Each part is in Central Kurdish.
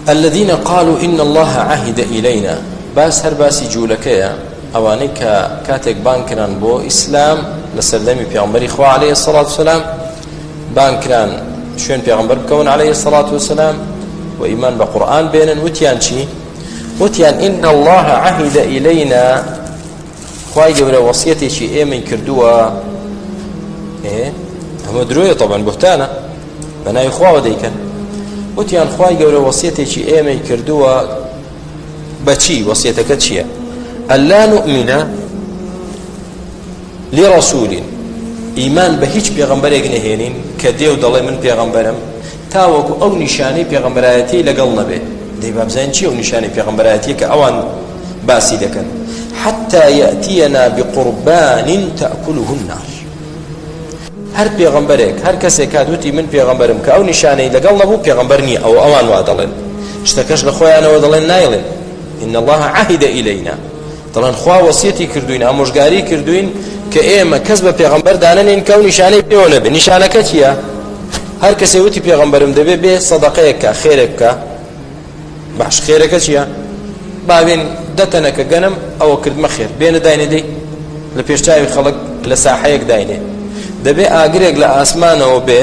الذین قالوا ان اللە عهد الینا باس هەر باسی جوولەکەیە ئەوانەی کە کاتێک بان کران بۆ ئیسلام لە سەردەمی پیامبەری خوا عليه الصلاة والسلام بان کران شوێن پیامبەر بکەون عليه الصلاة والسلام و ئیمان بە قورآن بێنن وتیان چی وتیان ان الله عهد الینا خوای گەورە وەسیەتێکی ئێمەی کردووە ئەمە درۆیە تەبەن بهتانە بە ناوی خواوە دەیکەن وتیان خوای گەورە وەسیەتێکی ئێمەی کردووە بەچی وەسیەتەکە چییە ئەلا نؤمنە لڕسوولین ئیمان بە هیچ پێغمبەرێک نەهێنین کە دێو دەڵێ من پێغمبەرم تاوەکو ئەو نیشانەی پێغەمبەرایەتیەی لەگەڵ نەبێت دەی بابزانین چی ئەو نیشانەی پێغەمبەرایەتیە کە ئەوان باسی دەکەن حتى يأتينا بقربان تأكله النار هەر پێغەمبەرێک هەر کەسێک کات وتی من پێغەمبەرم کە ئەو نیشانەی لەگەڵ نەبوو پێغەمبەر نییە ئەو ئەوان وا دەڵێن شتەکەش لە خۆیانەوە دەڵێن نایڵێن إن الله عهد إلينا دەڵێن خوا وەسیەتی کردوین ئامۆژگاری کردوین کە ئێمە کەس بە پێغمبەر دانەنین کە و نیشانەی پێوە نەبێ نیشانەکە چییە؟ هەر کەسێ وتی پێغمبەرم دەبێ بێ سەدەقەیەکە خێرێکە باش خێرەکە چییە؟ باوێن دەتەنەکە گەنم ئەوە کردمە خێر بێنە داینێدەی لە پێشچوی خەڵک لە ساحەیەک داینێ دەبێ ئاگرێک لە ئاسمانەوە بێ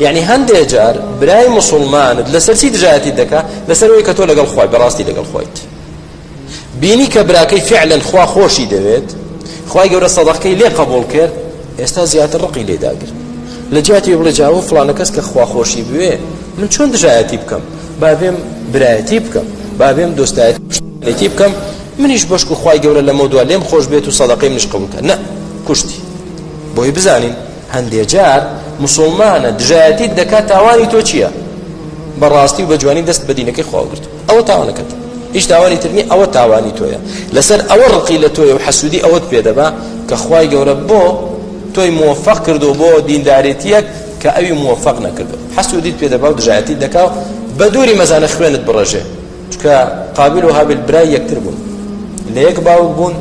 یەعنی هەندێ جار برای موسڵمانت لەسەر چی دژایەتی دەکا لەسەر ئەوەی کە تۆ لەگەڵ خۆی بەڕاستی لەگەڵ خۆیت بینی کە براکەی فعلەن خوا خۆشی دەوێت خوای گەورە سەدەقەکەی لێ قبول کرد ئێستا زیاتر ڕقی لێ داگرت لە جیاتی بڵێ جاوە فلانە کەس کە خوا خۆشی بوێ من چۆن دژایەتی بکەم بابێم برایەتی بکەم بابێم دۆستایەتی بکەم منیش بەشک و خی گەورە لەمە دو لێم خۆش بێت و سەدەقەی منش قبولکە نە کوشتی بۆی بزانین هەندێ جار مسوڵمانە دژایەتیت دەکات تاوانی تۆ چییە بەڕاستی و بە جوانی دەست بە دینەکەی خواگرت ئەوە تاوانەکەت هیچ تاوانی ترنی ئەوە تاوانی تۆیە لەسەر ئەوە ڕقی لە تۆیە و حەسوودی ئەوەت پێدەبا کە خوای گەورە بۆ تۆی موفق کردو بۆ دیندارێتیەک کە ئەوی موفق نەکردو حەسوودیت پێدەبا و دژایەتی دەکا و بە دووری مەزانە خوێنت بڕژێ چونکە قابیل و هابیل برای یەکتر بوون لە یەک باوک بوون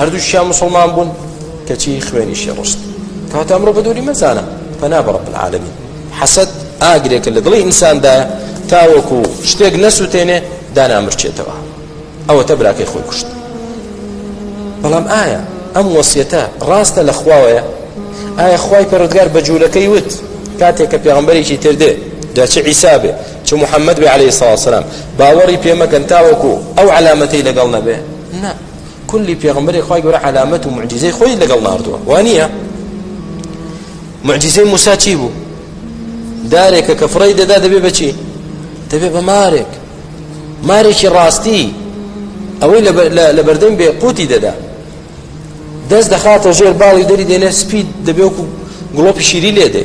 هەردووشیان مسلمان بوون کەچی خوێنیشی ڕشت کەواتە ئەمڕۆ بە دووری مەزانە پەنا بە ڕب العالمین حەسەد ئاگرێکە لە دڵی ئینساندایە تاوەکو شتێک نەسووتێنێ دانامرچێتەوە ئەوەتە براکەی خۆی کوشت بەڵام ئایا ئەم وەسیەتە ڕاستە لە خواوەیە ئایا خوای پەرۆدگار بە جوولەکەی وت کاتێک کە پێغمبەرێکی تردێ دەچ عیسابێ چ محمد بێ عەلەیهی سڵاو سەلام باوەڕی پێ مەکەن تاوەکو ئەو عەلامەتەی لەگەڵ نەبێ نا کولی پێغمبەری خوای گەورە عەلامەت و معجزەی خۆی لەگەڵ ناردووە وانە معجزەی موسا چی بوو دارێکە کە فڕی دەدا دەبێ بەچی دەبێ بە مارێک مارێکی ڕاستی ئەوەی لە بەردەم بێ قوتی دەدا دەست دەخاتە ژێر باڵی دەری دێنێ سپید دەبێ وکو گڵۆپی شیری لێ دێ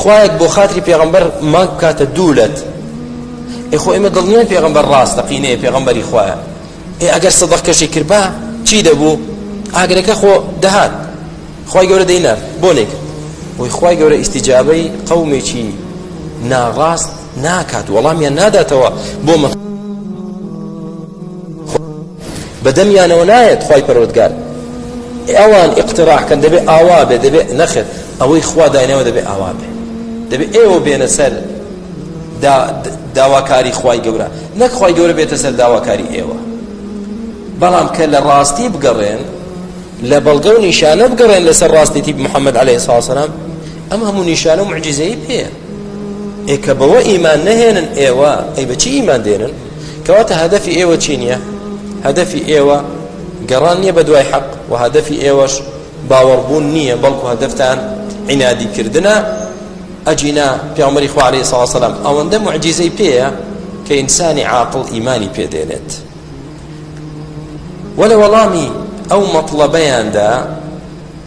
خوایەک بۆ خاتری پێغمبەر ماک بکاتە دوو لەت ئێ خۆ ئێمە دڵنیان پێغمبەر ڕاستە قینەیە پێغمبەری خوایە ئێ ئەگەر سەدەق کەشی کربا چی دەبوو ئاگرەکە خۆ دەهات خی گەورە دەینار بۆ نێکرد بۆی خی گەورە ئیسیجابەی قەومێکی ناڕاست ناکات وەڵامیان ناداتەوە بۆ مە بە دەمیانەوە نایەت خوای پەروەردگار ئەوان ئیقتراح کەن دەبێ ئاوا بێ دەبێ نەخێر ئەوەی خوا داینەوە دەبێ ئاوا بێ دەبێ ئێوە بێنە سەر دا داواکاری خوای گەورە نەک خوای گەورە بێتە سەر داواکاری ئێوە بەڵام کە لە ڕاستی بگەڕێن لە بەڵگە و نیشانە بگەڕێن لەسەر ڕاستێتی محەممەد عليه ساسەرام ئەم هەموو نیشانە و معجززەی پێ ئێ کە بەوە ئیمان نەهێنن ئێوە ئەی بەچی ئیمان دێنن کەواتە هەدەفی ئێوە چی نییە؟ هەدەفی ئێوە گەڕان نییە بە دوای حەق و هەدەفی ئێوەش باوەڕبوون نییە بەڵکو هەدەفتان عینادی کردنە ئەجینا پیامەری خوا عليه سڵ سلام ئەوەندە معجیزەی پێەیە کە ئینسانی عاقل ئیمانی پێدێنێت وە لە وەڵامی ئەو مەطلبەیاندا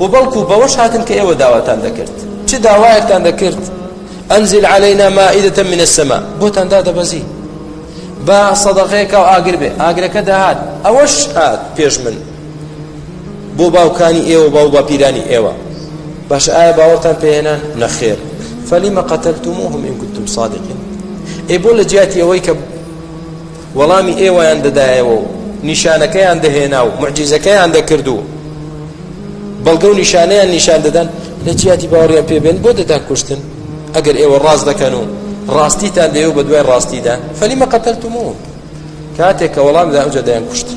و بەڵکو بەوەش هاتن کە ئێوە داواتان دەکرد چ داوایەکتان دەکرد ئەنزل علينا مائدة من السماء بۆتان دادەبەزی با سەدەقەیەکە و ئاگر بێ ئاگرەکە داهات ئەوەش هات پێش من بۆ باوکانی ئێوە باو باپیرانی ئێوە باش ئایا باوەتان پێێنان نەخێر فەلیمە قەتەلتموهم إن كنتم صادقين ئێ بۆ لە جیاتی ئەوەی کە وەڵامی ئێوەیان دەدایەوە و نیشانەکەیان دەهێنا و موعجیزەکەیان دەکرد و بەڵگە و نیشانەیان نیشان دەدان لە جیاتی باوەڕیان پێ بێن بۆ دەتانکوشتن ئەگەر ئێوە ڕاست دەکەن و ڕاستیتان دەیەوە بە دوای ڕاستیدا فەلیمە قەتەلتموهم کاتێک کە وەڵام دا ئەوجا دەیانکوشتن